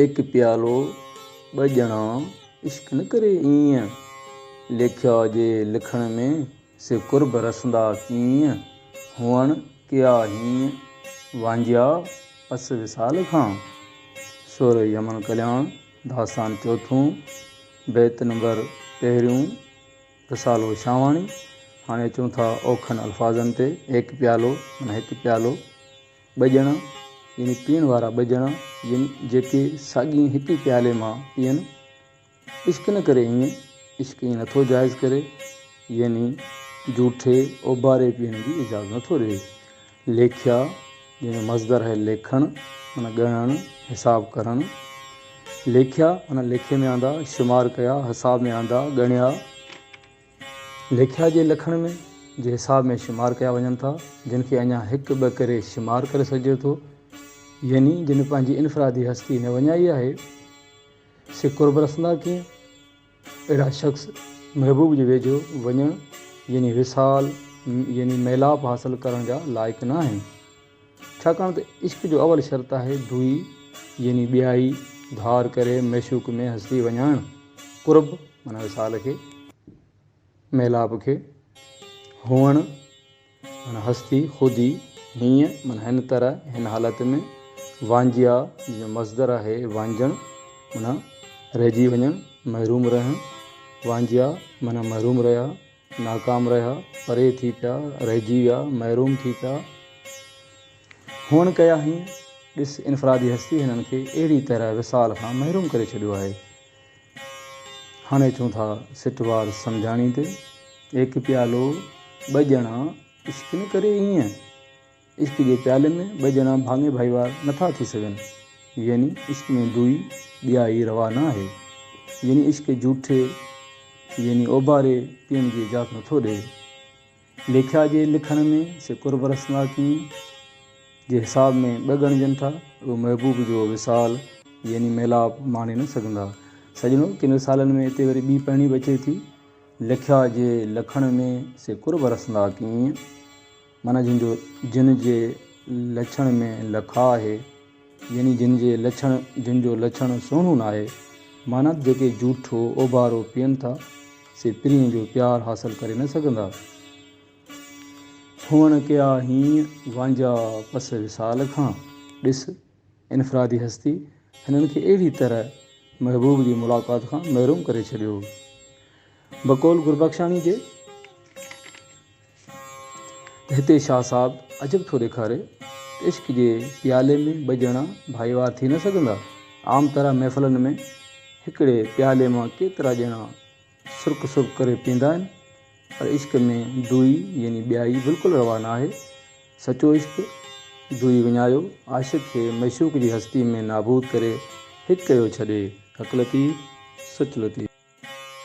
ايڪ پيالو ٻه ڄڻا عشق نه ڪري ايئن. ليکيا جي لکڻ ۾ سي قرب رسندا ڪيئن. هئڻ ڪيا هيئن وانجهيا پس وصال کان. سر يمن ڪلياڻ داستان چوٿون بيت نمبر پهريون رسالو شاهواڻي هاڻي اچون ٿا اوکن الفاظن تي ايڪ پيالو معنيٰ هڪ پيالو. ٻجڻا، يعني پيئڻ وارا ٻجڻا، جن جيڪي ساڳئي هڪ ئي پيالي مان پيئن. عشق نه ڪري ائين، عشق ائين نٿو جائز ڪري، يعني جوٺي، اوڀاري پيئڻ جي اجازت نٿو ڏئي. ليکيا، جنهن جو مصدر آهي ليکڻ، معنيٰ ڳڻڻ، حساب ڪرڻ. ليکيا، معنيٰ ليکي ۾ آندا، شمار ڪيا، حساب ۾ آندا، ڳڻيا. ليکيا جي لکڻ ۾ جي حساب ۾ شمار ڪيا وڃن ٿا جن کي اڃا هڪ ٻه ڪري شمار ڪري سگهجي ٿو يعني جن پنهنجي انفرادي هستي نه وڃائي آهي سي قرب رسندا ڪيئن اهڙا شخص محبوب جي ويجهو وڃڻ يعني وصال يعني ميلاپ حاصل ڪرڻ جا لائق نه آهن ڇاڪاڻ ته عشق جو اول شرط آهي دوئي يعني ٻيائي، ڌار ڪري معشوق ۾ هسي وڃائڻ، قرب معنيٰ وصال کي، ميلاپ کي، هئڻ معنيٰ هستي، خودي، هيئن معنيٰ هن طرح، هن حالت ۾، وانجهيا جنهن جو مصدر آهي وانجهڻ معنيٰ رهجي وڃڻ، محروم رهڻ، وانجهيا معنيٰ محروم رهيا. ناڪام رهيا، پري ٿي پيا، رهجي ويا، محروم ٿي پيا، هونئن ڪيا هين، ڏس انفرادي هستي هنن کي اهڙي طرح وصال کان محروم ڪري ڇڏيو آهي. هاڻي اچون ٿا سٽ وار سمجهاڻي تي. هڪ پيالو ٻه ڄڻا عشق نه ڪري ايئن. عشق جي پيالي ۾ ٻه ڄڻا ڀاڱي ڀائيوار نه ٿا ٿي سگهن. يعني عشق ۾ دوئي، ڏيائي، روا نه آهي. يعني عشق جوٺي، يعني اوڀاري، پيئڻ جي اجازت نه ٿو ڏئي. ليکيا جي لکڻ ۾ سي قرب رسناڪين جي حساب ۾ ٻه ڳڻجن ٿا، اهي محبوب جو وصال، يعني ميلاپ، ماڻي نه سگهندا. سڄڻو! ڪن وصالن ۾ اتي وري ٻي پهڻي به اچي ٿي، ليکيا جي لکڻ ۾ سي قرب رسناڪين. معنيٰ جن جو جن جي لڇڻ ۾ لکاء آهي، يعني جن جي لڇڻ جن جو لڇڻ سهڻو ناهي. معنيٰ جيڪي جوٺو اوڀارو پيئن ٿا، سي پرينء جو پيار حاصل ڪري نه سگهندا. هونئن ڪيا هين وانجها پس وصال کان، ڏس انفرادي هستي هنن کي اهڙي طرح محبوب جي ملاقات کان محروم ڪري ڇڏيو هو. بقول گربخشاڻي جي ته هتي شاهه صاحب عجب ٿو ڏيکاري ته عشق جي پيالي ۾ ٻه ڄڻا ڀائيوار ٿي نه سگهندا. عام طرح محفلن ۾ هڪڙي پيالي مان ڪيترا ڄڻا سرڪ سرڪ ڪري پيئندا آهن پر عشق ۾ دوئي يعني ٻيائي بلڪل روا ناهي. سچو عشق دوئي وڃايو عاشق کي معشوق جي هستي ۾ نابود ڪري هڪ ڪيو ڇڏي. حق لطيف سچ لطيف.